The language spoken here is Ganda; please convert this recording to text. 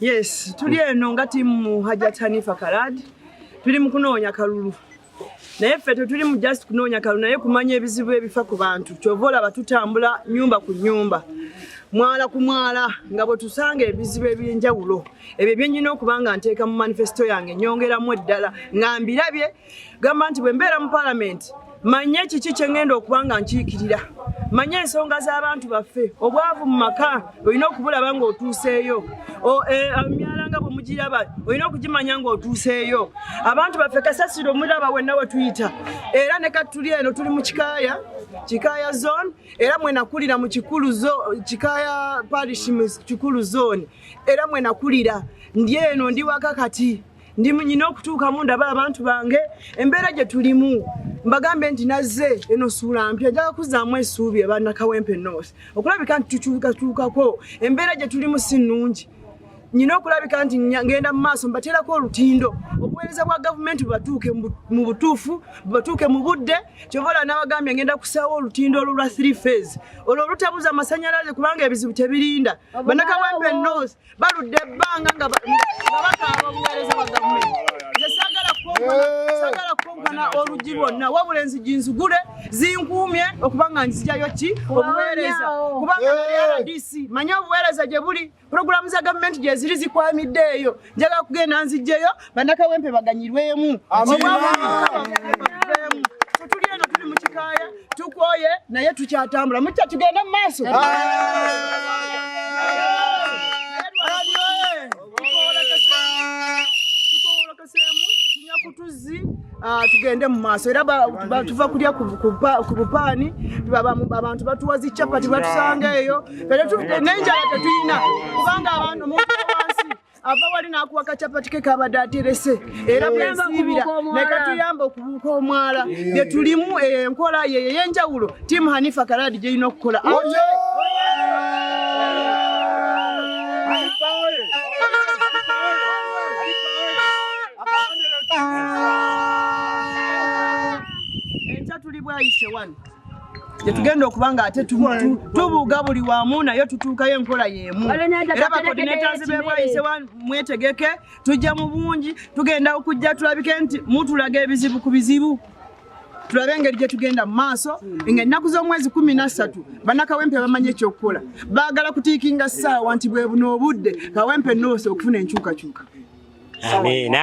Yes, tuli eno nga timu Hajat Hanifa Karad. Tuli mu kunoonya kalulu. Naye ffe tetuli mu just kunoonya kalulu naye kumanya ebizibu ebifa ku bantu. Kyova olaba tutambula nyumba ku nyumba. Mwala ku mwala nga bwe tusanga ebizibu eby'enjawulo. Ebyo bye nnina okuba nga nteeka mu manifesto yange nyongeramu eddala nga mbirabye gamba nti bwe mbeera mu palamenti manye kiki kye ŋŋenda okuba nga nkiikirira manye ensonga z'abantu baffe obwavu mu maka olina okubulaba ng'otuuseeyo e, emyala nga bwe mugiraba olina okugimanya ng'otuuseeyo abantu baffe kasasiro omulaba wenna we tuyita era ne kati tuli eno tuli mu kikaaya kikaaya zone era mwenakulira mu kikulu kikaaya parish mu kikulu zone era mwenakulira ndi eno ndi waka kati ndi munyina okutuukamu ndaba abantu bange embeera gye tulimu mbagambe nti nazze eno suula mpya njaga kuzzaamu esuubi abanakawempe north okulabika nti tukyukatuukako embeera gye tulimu si nnungi nyina okulabika nti ngenda mu maaso mbateerako olutindo obuweereza bwa gavumenti bubatuuke mu butuufu bubatuuke mu budde kyobola nabagambye ngenda kusaawo olutindo olwo lwa three phase olwo olutabuza amasanyalaze kubanga ebizibu tebirinda banakawempe north baludde ebbanga nga bakaaba obuweereza bwa gavumenti nze saagala kukonkona saagala kukonkona oluggi lwonna wabula enzigi nzigule zinkuumye okuba nga nzijayo ki obuweereza kubanga nali rdc manye obuweereza gye buli pulogulaamu za gavumenti gyeziri zikwamidde eyo njagala kugenda nzijjeyo banakawempe baganyirwemu tuli eno tuli mukikaaya tukwoye naye tukyatambula mukya tugenda mu maaso tuzzi ah, tugende mu maaso era tuva kulya ku bupaani abantu batuwa zi capati batusanga eyo nenjala tetuyina kubanga abantu ava wali n'akuwa kacapati ke kabadde aterese era bwesiibira ne katuyamba okubuuka omwala bye tulimu enkola yeyo ey'enjawulo tiimu hanifa karaadi gy'erina okukola enkya tuli bwayise wano gyetugenda okuba nga ate tubuuga buli wamu naye tutuukayo enkola yemu era bakoordinators bebwayise mwetegeke tujja mu bungi tugenda okujja tulabike nti mutulaga ebizibu ku bizibu tulabe engeri gyetugenda mu maaso nga ennaku z'omwezi kumi nassatu bannakawempe bamanyi ekyokukola baagala kutiikinga ssaawa nti bwebuna obudde kawempe noose okufuna enkyukakyuka amina